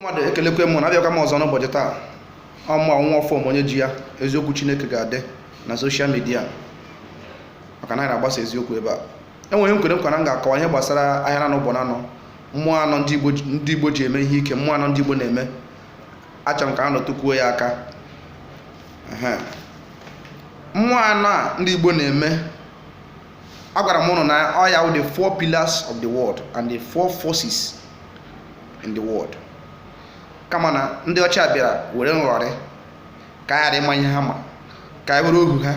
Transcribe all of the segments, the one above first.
mmadụ ekelekwa m ụnụ abịakwa m ọzọ n'ụbọchị taa ọ mụnwa fọm onye ji ya eziokwu chineke ga-adị na social media maka na anyị na-agbasa eziokwu ebe a enwere ihe m kwere nkwa na m ga-akọwa ihe gbasara ahịa na-anọ ụbọ na-anọ mmụọ anọ ndị igbo ji- ndị igbo ji eme ihe ike mmụọ anọ ndị igbo na-eme achọrọ m ka anyị rụtụkwuo ya aka Ehe. mmụọ anọ a ndị igbo na-eme agwara m ụnụ na ọ ya wụ the four pillars of the world and the four forces in the world kama na ndị ọcha bịara were nghọrị ka anyị ghara ịma ihe ha ma ka anyị wụrụ ohu ha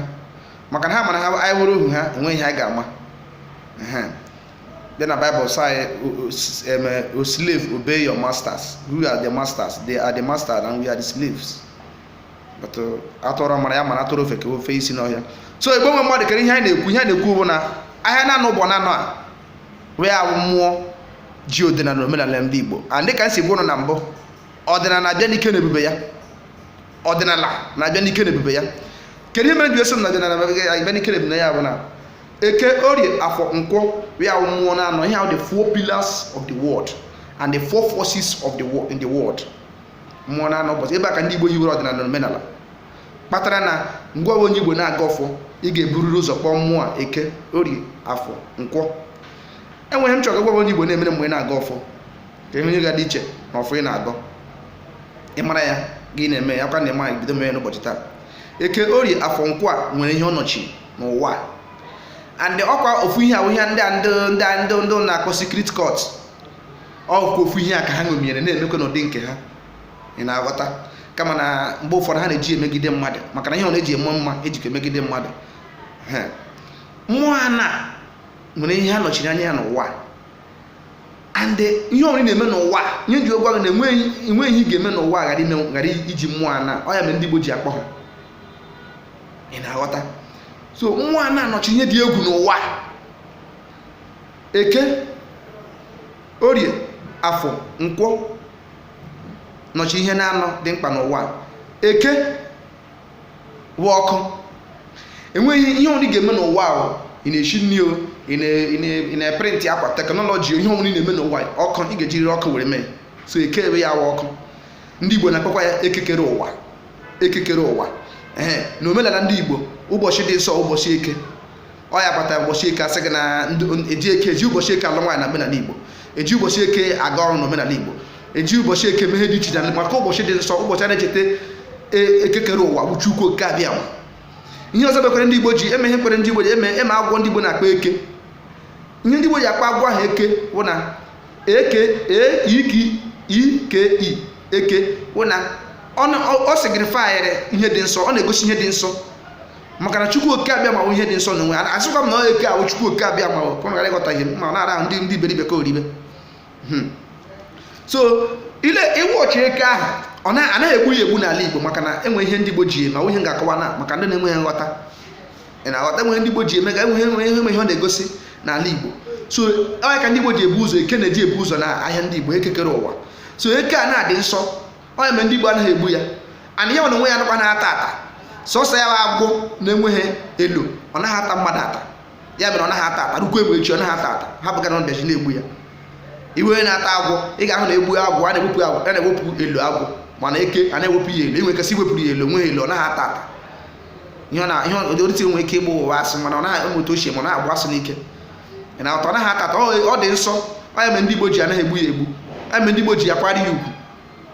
maka na ha ma na anyị wụrụ ohu ha enweghị ihe anyị ga-ama bịa na Bible sị anyị o slave obey your masters who are the masters they are the masters and we are the slaves a tụọrọ ọmara ọ mara a tụọrọ ofeke o fee isi n'ọhịa so igbo nwe mmadụ kee ihe anyị na-ekwu ihe anyị na-ekwu bụ na ahịa na-anọ ụbọ na-anọ a wụ mmụọ ji ọdịnala omenala ndị igbo and dịka m si gwa ụnụ na mbụ ọdịnala na-abịa n'ike na ebube ya ọdịnala na-abịa n'ike na ebube ya kedu ihe mere m ji asị na ọdịnala abịa n'ike na ebube ya bụ na eke orie afọ nkwọ a wụ mmụọ na-anọ ihe a wụ the four pillars of the world and the four forces of the world in the world mmụọ na anọ ụbọchị ebe a ka ndị Igbo hiwere ọdịnala na omenala kpatara na mgbe ọbụla onye Igbo na-agọ ọfọ ị ga-eburiri ụzọ kpọọ mmụọ a eke orie afọ nkwọ enwere ihe m chọrọ ịgwa onye Igbo na-emere mgbe ị na-agọ ọfọ ka ihe onye ga dị iche na ọfọ ị na-agọ ị mara ya gị na-eme ya kwa na ịma bido mee ya n'ụbọchị taa eke orie afọ nkwọ a nwere ihe ọ nọchi n'ụwa a and ọkwa ofu ihe a wụ ihe ndị a ndị ndị a ndị ndị na-akpọ secret cult ọkwa ofu ihe a ka ha ṅomiere na-emekwa n'ụdị nke ha ị na-aghọta kama na mgbe ụfọdụ ha na-eji emegide mmadụ maka na ihe a na-eji eme mma ejikwa emegide mmadụ Ehe. mmụọ anọ a nwere ihe ha nọchiri anya ya n'ụwa and ihe ọbụla ị na-eme n'ụwa ya m ji agwa gị na enweghị enweghị ihe ị ga-eme n'ụwa ghara ime ghara iji mmụọ anọ a ọ ya mere ndị Igbo ji akpọ ha ị na-aghọta so mmụọ anọ a nọchiri ihe dị egwu n'ụwa eke orie afọ nkwọ nọchi ihe na-anọ dị mkpa n'ụwa a. eke wụ ọkụ enweghị ihe ọbụla ị ga-eme n'ụwa o ị na-eshi nri o ị na- ị na- ị na-eprint akwa technology o, ihe ọbụla ị na-eme n'ụwa a, ọkụ ị ga-ejiriri ọkụ were mee so eke ọ ya wụ ọkụ ndị igbo na-akpọkwa ya eke kere ụwa eke kere ụwa ee na omenala ndị igbo ụbọchị dị nsọ ụbọchị eke ọ ya kpata ụbọchị eke asị gị na eji eke eji ụbọchị eke alụ nwaanyị na omenala igbo eji ụbọchị eke aga ọrụ na omenala igbo eji ụbọchị eke eme ihe dị iche iche maka ụbọchị dị nsọ ụbọchị a na-echeta e, ekekere ụwa bụ Chukwu oke abịama ihe ọzọ bekwere ndị igbo ji eme ihe kwere ndị igbo ji eme eme agwọ ndị igbo na-akpọ eke ihe ndị igbo ji akpọ agwọ ahụ eke bụ na eke eiki ike i eke bụ na ọ signifyrị ihe dị nsọ ọ na-egosi ihe dị nsọ maka na chukwu oke abịama ihe dị nsọ n'onwe ya asịkwa m na ọ eke ahụ chukwu oke abịama ka ụnụ ghara ịghọta ihe m na-ara ahụ ndị ndị iberibe ka oribe Hmm. so ile iwu ọchị eke ahụ ọ na- anaghị egbu ya egbu n'ala igbo maka na enwe ihe ndị igbo ji eme ihe ga-akọwa na maka ndị na-enweghị nghọta ị na-aghọta enweghị ndị igbo ji eme ga enweghị enweghị enweghị ihe ọ na-egosi n'ala igbo so ọ ya ka ndị igbo ji ebu ụzọ eke na-eji ebu ụzọ na ahịa ndị igbo ekekere ụwa so eke a na-adị nsọ ọ ya mere ndị Igbo anaghị egbu ya ana ya onwe ya nụkwa na-ata ata sọsọ ya bụ agwọ na-enweghị elu ọ naghị ata mmadụ ata ya mere ọ naghị ata ata rukwa egbe echi ọ naghị ata ata ha bụga na ndaji na-egbu ya iwe onye na-ata agwọ ị ga-ahụ na egbu agwọ a na-ewepụ agwọ a na-ewepụ elu agwọ mana eke a na-ewepụ ya elu enwe kasị iwepụrụ ya elu onweghị elu ọ naghị ata ata ihe na ihe odorite nwere ike ịgba ụwa asị mana ọ naghị ụmụ otu ochie ma ọ na-agba asị n'ike ị na-atọ ọ naghị ata ata ọ dị nsọ ọ ya mere ndị Igbo ji anaghị egbu ya egbu ọ ya mere ndị Igbo ji akwara ya ugwu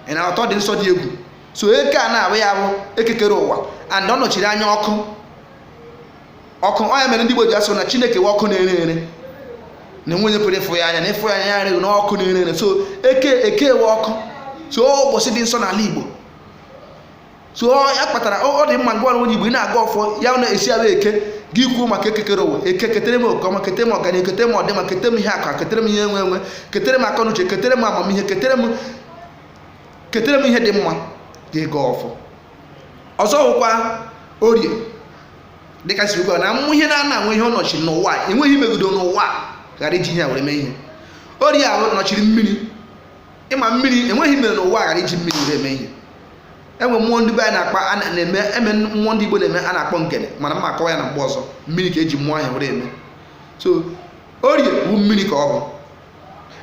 ị na-anụta ọ dị nsọ dị egwu so eke a na-abụ ya bụ ekekere ụwa and ọ nọchiri anya ọkụ ọkụ ọ ya mere ndị Igbo ji asị na Chineke wụ ọkụ na-ere ere na enwe onye pụrụ ịfụ ya anya na ịfụ ya anya ya rịghị na ọkụ na-ere ere so eke eke wụ ọkụ so ụbọchị dị nsọ n'ala Igbo so ya kpatara ọ dị mma ngwa onye igbo ị na-agọ ọfọ ya na-esi ala eke gị kwuo maka ekekere ụwa eke ketere m oke ọma ketere m ọganihu ketere m ọdịma ketere m ihe akụ ketere m ihe enwe enwe ketere m akọnuche ketere m amamihe ketere m ketere m ihe dị mma gị gọọ ọfọ ọzọ wụkwa orie dịka si ugbu na ụmụ ihe na-ana enwe ihe ọ nọchi n'ụwa enweghị ihe i megido n'ụwa ghara iji ihe a were mee ihe orie ahụ nọchiri mmiri ị ma mmiri enweghị ihe e mere n'ụwa ghara iji mmiri were mee ihe enwe mmụọ ndị be anyị na-akpọ a na- na-eme eme mmụọ ndị igbo na-eme a na-akpọ ngene mana m ma akọwa ya na mgbe ọzọ mmiri ka eji mmụọ ahụ were eme so orie bụ mmiri ka ọ bụ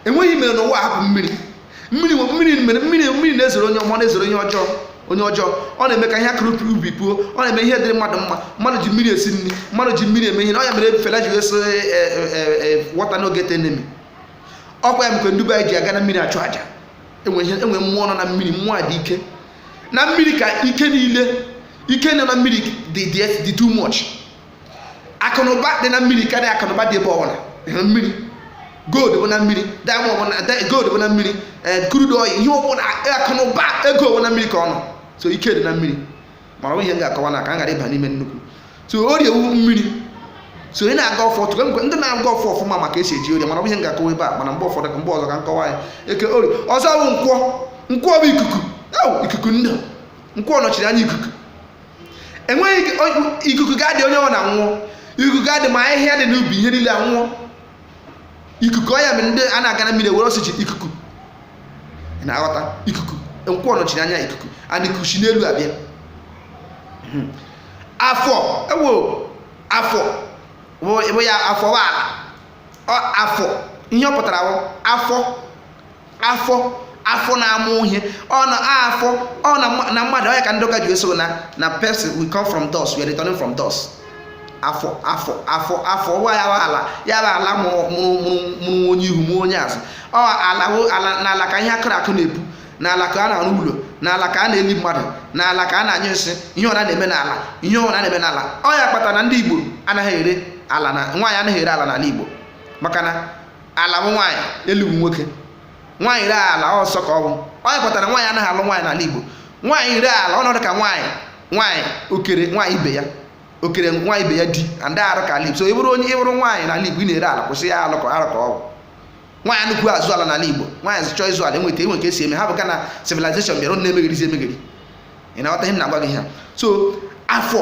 enweghị ihe e mere n'ụwa hapụ mmiri mmiri nwe- mmiri mere mmiri mmiri na-ezoro onye ọma ọ na-ezoro onye ọjọọ onye ọjọọ ọ na-eme ka ihe a kụrụ n'ubi puo ọ na-eme ihe dịrị mmadụ mma mmadụ ji mmiri esi nri mmadụ ji mmiri eme ihe na ọ ya mere Fela ji asị water no get enemy ọkwa ya mere ndị be anyị ji aga na mmiri achụ aja enwe ihe enwe mmụọ nọ na mmiri mmụọ a dị ike na mmiri ka ike niile ike nọ na mmiri dị dị dị too much akụnụba dị na mmiri karịa akụnụba dị ebe ọbụla na mmiri gold bụ na mmiri diamond bụ na di- gold bụ na mmiri eh, crude oil ihe ọbụla akụnụba ego bụ na mmiri ka ọ nọ so ike dị na mmiri mana ọ wụ ihe m ga-akọwa na ka m ghara ịba n'ime nnukwu so orie wụ mmiri so ị na-aga afa tụrụ mgbe ndị na-aga afa ọfụma ma ka esi eji orie mara ihe m ga-akọwa ebe a mana mgbe ụfọdụ mgbe ọzọ ka m kọwa ya eke orie ọzọ bụ nkwọ nkwọ bụ ikuku wụ ikuku ndụ nkwọ nọchiri anya ikuku enweghị ikuku ga-adị onye ọ na anwụọ ikuku ga-adị ma ahịhịa dị n'ubi ihe niile anwụọ ikuku ọ ya mere ndị a na-aga na mmiri were oxygen ikuku na-aghọta ikuku nkwọ nọchiri anya ikuku and ikuku si n'elu abịa hmm. afọ wụ afọ bụ ya afọ bụ ala afọ ihe ọ pụtara bụ afọ afọ afọ na-amụ ihe ọ na afọ ọ na mmadụ ọ ya ka ndị ụka ji asị na na person we come from dust we are returning from dust afọ afọ afọ afọ ụwa ya bụ ala ya bụ ala mụrụ mụrụ mụrụ onye ihu mụrụ onye azụ ọ ala ala na ala ka ihe akụrụ akụ na-epu n'ala ka a na-arụ ụlọ n'ala ka a na-eli mmadụ n'ala ka a na-anyụ nsị ihe ọ na a na-eme n'ala ihe ọ na a na-eme n'ala ọ ya kpatara na ndị Igbo anaghị ere ala na nwaanyị anaghị ere ala n'ala Igbo maka na ala bụ nwaanyị elu bụ nwoke nwaanyị ree ala nsọ ka ọ bụ ọ ya kpatara nwaanyị anaghị alụ nwaanyị n'ala Igbo nwaanyị ree ala ọ na-adị ka nwaanyị nwaanyị okere nwaanyị ibe ya okere nwaanyị ibe ya di ndị arụ ka ala Igbo so ị bụrụ onye ị bụrụ nwaanyị n'ala Igbo ị na-ere ala kwụsị ya alụ ka arụ ka ọ bụ nwaanyị anaghịkwa azụ ala n'ala Igbo nwaanyị chọọ ịzụ ala enwee ka esi eme ha bụ ka na civilization bịara unu na-emegherizi emegheri ị na-aghọta ihe m na-agwa gị ha so afọ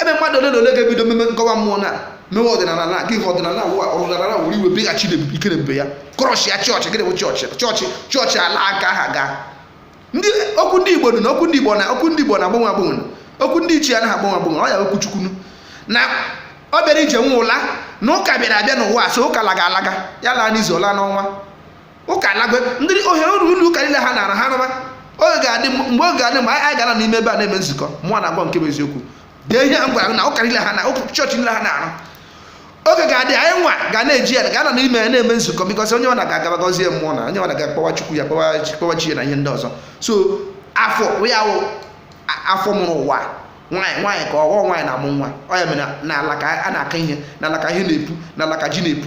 ebe mmadụ ole na ole ga-ebido mewe gọwa mmụọ na mewe ọdịnala na gị ọdịnala ụwa ọdịnala were weghachi ike na ebube ya kọrọchi ya chọọchị gịnị bụ chọọchị chọọchị chọọchị ala aka aha gaa ndị okwu ndị igbo na okwu ndị igbo na okwu ndị igbo anaghị agbanwe agbanwe okwu ndị ichie anaghị agbanwe agbanwe ọ ya okwu chukwu na ọ bịara ije nwe ụla na ụka bịara abịa n'ụwa so ụka laga alaga ya laa n'izu ọ laa n'ọnwa ụka alago ndị ohere ụlọ ụlọ ụka niile ha na-arụ ha rụba oge ga-adị mgbe oge ga-adị mgbe anyị ga-anọ n'ime ebe a na-eme nzukọ mụ na-agwa nke bụ eziokwu dee ihe m gwara na ụka niile ha na chọọchị niile ha na-arụ oge ga-adị anyị nwa ga na-eji ya ga-anọ n'ime ya na-eme nzukọ because onye ọ na ga-agaba gọzie mmụọ na onye ọ na ga-akpọwa chukwu ya kpọwa chi ya na ihe ndị ọzọ so afọ ya wụ afọ mụrụ ụwa nwaanyị nwaanyị ka ọ wụ nwaanyị na-amụ nwa ọ ya mere n'ala ka a na-akọ ihe n'ala ka ihe na-epu n'ala ka ji na-epu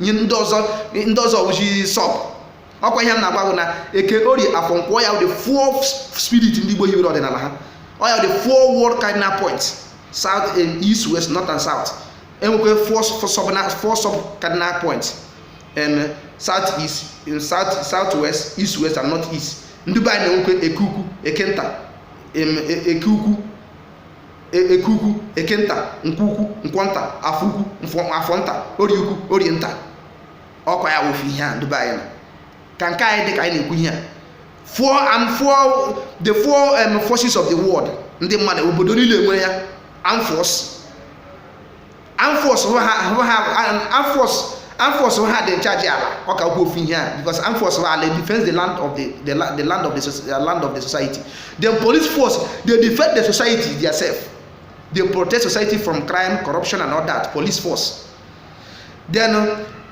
enwee ndị ọzọ ndị ọzọ wụzi sub ọkwa ihe m na-agwa bụ na eke orie afọ nkwọ ọ ya the four spirit ndị Igbo hiwere ọdịnala ha ọ ya the four world cardinal points south and east west north and south enwekwa four sub four sub cardinal points and south east south south west east west and north east ndị be anyị na-enwekwa eke ukwu eke nta eke ukwu e, eke ukwu eke nta nkwọ ukwu nkwọ nta afọ ukwu afọ nta orie ukwu orie nta ọkwa ya wụ ofu ihe a ndị be anyị na ka nke anyị dị ka anyị na-ekwu ihe a four and four the four um, forces of the world ndị mmadụ obodo niile nwere ya armed force armed force armed force ha dị in charge ala ọ ka gwa ofu ihe a because armed force ha ala defends the land of the, the, the land of the, the land of the society the police force they defend the society theirself they protect society from crime corruption and all that police force then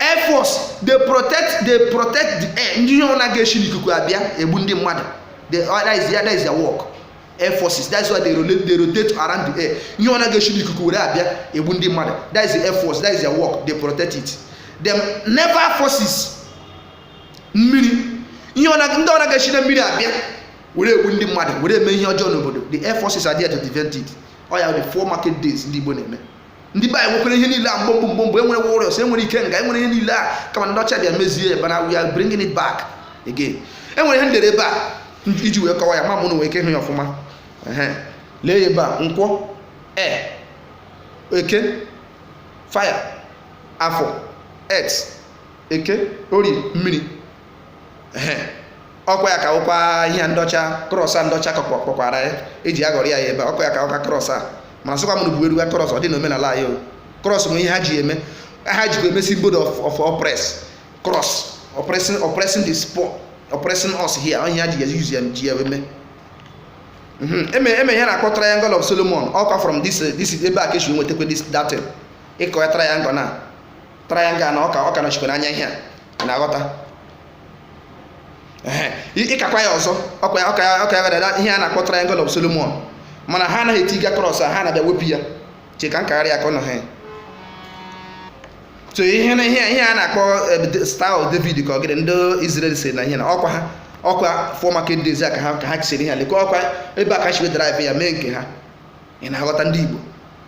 air force they protect they protect the air ndị ihe ọ na-aga esi n'ikuku abịa egbu ndị mmadụ that is that is their work air forces that's why they rotate they rotate around the air ihe ọ na-aga esi n'ikuku were abịa egbu ndị mmadụ that is the air force that is their work they protect it then naval forces mmiri ihe ọ na-aga ndị ọ na-aga esi na mmiri abịa were egbu ndị mmadụ were eme ihe ọjọọ n'obodo the air forces are there to prevent it ọ ya the four market days ndị Igbo na-eme ndị be anyị nwekwara ihe niile a gboo gboo gboo gboo enwere warriors enwere ikenga enwere ihe niile a kama ndị ọcha bịa mezie ban ha we are bringing it back again enwere ihe ndere ebe a iji wee kọwa ya ma ụnụ nwee ike ịhụ ya ọfụma lee ya ebe a nkwọ air eke fire afọ earth eke orie mmiri ọkwa ya ka wụkwa ihe ndị ọcha cross a ndị ọcha kpọkwara ya eji aghọrọ ya ya ebe ọkwa ya ka wụkwa cross a mana sịkwa mụrụ bụ eruga cross ọ dị na omenala anyị o cross bụ ihe ha ji eme ha jikwa eme symbol of oppress cross oppressing oppressing the poor oppressing us here onye ha ji ya use ya ji ya eme mhm. eme eme ihe na-akpọ triangle of Solomon ọkwa from this this ebe a ka esi nwetakwa this that thing ịkọ ya triangle na triangle na ọka ọka nọchikwa n'anya ihe a na-aghọta ị kakwa ya ọzọ ọka ya ọka ya gadada ihe a na-akpọ triangle of Solomon mana ha anaghị eti ga cross a ha na-abịa wepụ ya che ka m kagharị ya ka ọ nọ ha so ihe na ihe ihe a na-akpọ eh, star of David ka ọgịrị ndị Israel si na ihe na ọkwa ha ọkwa four market days a ka ha ka ha chisiri ihe a lekwa ọkwa ebe a ka si wee derive ya mee nke ha ị na-aghọta ndị Igbo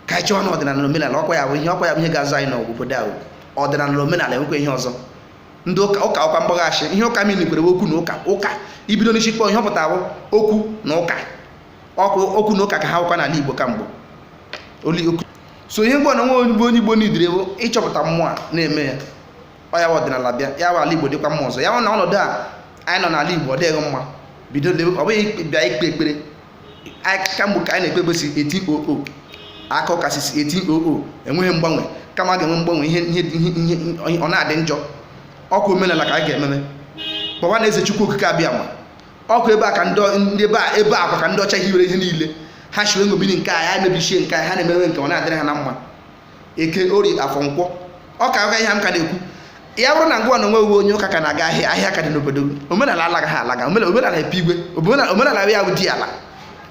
ka anyị chọọ na ọdịnala na omenala ọkwa ya bụ ihe ọkwa ya bụ ihe ga-azọ anyị n'ọgwụ obodo ahụ ọdịnala na omenala enwekwa ihe ọzọ ndị ụka ụka ọkwa mgbaghachi ihe ụka mmiri kwere okwu na ụka ụka ị bido n'isi kpọọ ihe ọ pụtara bụ okwu na ụka okwu okwu na ụka ka ha wụkwa n'ala Igbo kamgbe oli okwu so ihe mgbe na nwa onye onye Igbo needịrị bụ ịchọpụta mmụọ a na-eme ya ọ ya bụ ọdịnala bịa ya bụ ala Igbo dịkwa mma ọzọ ya bụ na ọnọdụ a anyị nọ n'ala Igbo ọ dịghị mma bido lewe- ọ bụghị bịa ikpe ekpere kamgbe ka anyị na-ekpebe si 1800 akọ kasị si 1800 enweghị mgbanwe kama a ga-enwe mgbanwe ihe ihe ihe ihe ọ na-adị njọ ọ kwa omenala ka anyị ga-ememe kpọwa na eze chukwu okike abịama ọ kwa ebe a ka ndị ndị ebe a ebe a kwa ka ndị ọcha hiwere ihe niile ha shiwe ngobiri nke a ya mebichie nke a ha na-emewe nke ọ na-adịrị ha na mma eke orie afọ nkwọ ọ ka ụka ihe m ka na-ekwu ya bụrụ na ngwa na onwe uwe onye ụka ka na-aga ahịa ahịa ka dị n'obodo omenala alaga ha alaga omenala epe igwe omenala ya bụ di ala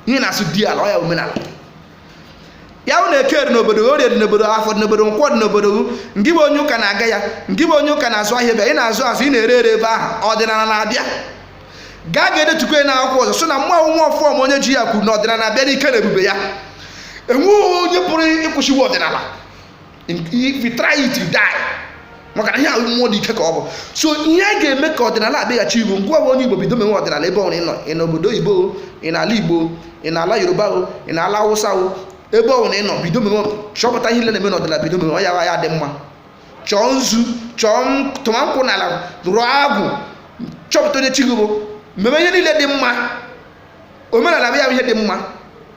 ihe na-asụ di ala ọ ya omenala ya bụ na eke dị n'obodo orie dị n'obodo afọ dị n'obodo nkwọ dị n'obodo ngị bụ onye ụka na-aga ya ngị bụ onye ụka na-azụ ahịa ebe ị na-azụ azụ ị na-ere ere ebe ahụ ọdịnala na-abịa gaa gaa detukwa na akwụkwọ ọzọ so na mụ nwa ọfọ ma onye ji ya kwuru na ọdịnala abịala n'ike na ebube ya enweghị onye pụrụ ịkwụsịwa ọdịnala if you try it you die maka na ihe ahụ mmụọ dị ike ka ọ bụ so ihe a ga-eme ka ọdịnala bịaghachi igbo ngwa onye igbo bido mewe ọdịnala ebe ọbụla ị nọ ị nọ obodo oyibo ị nọ ala igbo ị nọ ala yoruba o ị nọ ala hausa o ebe ọbụla ị nọ bido mewe chọpụta ihe ile na-eme n'ọdịnala bido mewe ọ ya ya dị mma chọọ nzu chọọ tụma nkwụ n'ala rụọ agwụ chọpụta onye chi gị bụ meme ihe niile dị mma omenala bụ ya bụ ihe dị mma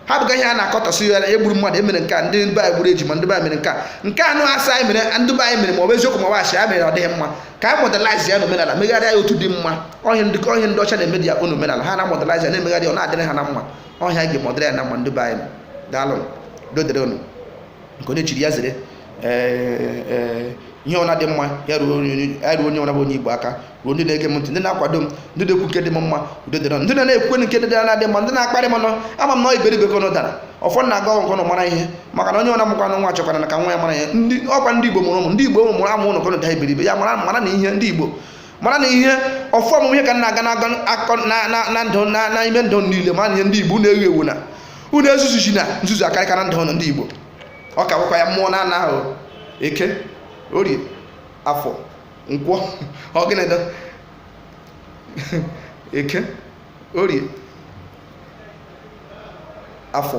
hapụga ihe a na-akọtọsị ya e gburu mmadụ e mere nke a ndị be anyị gburu ejima ndị be anyị mere nke a nke anụ asị anyị mere ndị be anyị mere ma ọ bụ eziokwu ma ọ bụ asị ya mere ọ dịghị mma ka anyị modernize ya na omenala megharịa ya otu dị mma ọ ihe ndị ọ ihe ndị ọcha na-eme dị ya na omenala ha na modernize ya na-emegharị ọ na-adịrị ha na mma ọ ihe a ga-eme ọ dịrị ya na mma ndị be anyị daalụ udo dịrị unu nke onye chiri ya zere ee, ee, ihe ọna dị mma ya ruo onye- ya ruo onye ọna bụ onye igbo aka ruo ndị na-ege m ntị ndị na-akwado m ndị na-ekwu nke dị m mma udo dịrị unu. ndị na na-ekwu nke dị na-adịghị mma ndị na-akparị m nọ ama m na ọ iberibe ka unu dara ọfọ m na-agọ ka unu mara ihe maka na onye ọna mụkwara nwa chọkwaranụ ka nwa ya mara ihe ndị ọ kwa ndị igbo mụrụ ụmụ ndị igbo mụrụ amụ ụnụ ka ụnụ daa iberibe ya mara maranụ ihe ndị igbo maranụ ihe ọfọ ọmụmụ ihe ka na-aga na-aga akọ na- na- na ndụ na- na ime ndụ unu niile maranụ ihe ndị igbo unu awụghị ewu na unu ezuzuzina nzuzu akarịka na ndụ ụnụ ndị igbo ọ ka bụkwa ya mmụọ na anọ ahụ eke orie afọ nkwọ ọ gịnị bụ eke orie afọ